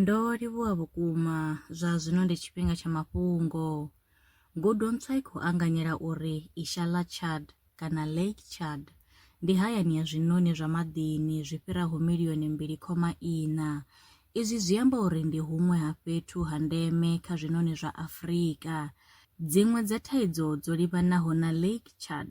Ndo livhuwa vhukuma! Zwa zwino ndi tshifhinga tsha mafhungo. Ngudo ntswa i khou anganyela uri Isha ḽa Chad, kana Lake Chad, ndi hayani ya zwiṋoni zwa maḓini zwi fhiraho milioni mbili khoma iṋa. Izwi zwi amba uri ndi huṅwe ha fhethu ha ndeme kha zwiṋoni zwa Afrika. Dziṅwe dza thaidzo dzo livhanaho na Lake Chad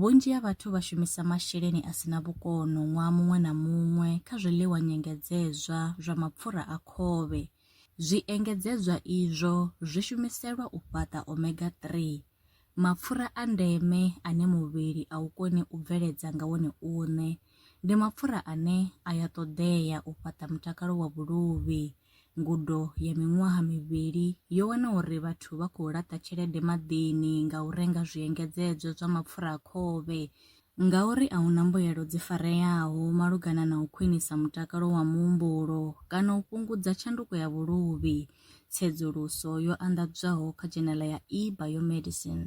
Vhunzhi ha vhathu vha shumisa masheleni a si na vhukono ṅwaha muṅwe na muṅwe kha zwiḽiwa nyengedzedzwa zwa mapfura a khovhe. Zwiengedzedzwa izwo zwi shumiselwa u fhaṱa omega 3, mapfura a ndeme ane muvhili a u koni u bveledza nga wone uṋe. Ndi mapfura ane a ya ṱoḓea u fhaṱa mutakalo wa vhuluvhi. Ngudo ya miṅwaha mivhili yo wana uri vhathu vha khou laṱa tshelede maḓini nga u renga zwiengedzedzwa zwa mapfura a khovhe ngauri a hu na mbuyelo dzi fareaho malugana na u khwinisa mutakalo wa muhumbulo kana u fhungudza tshanduko ya vhuluvhi, tsedzuluso yo anḓadzwaho kha dzhenela ya e-biomedicine.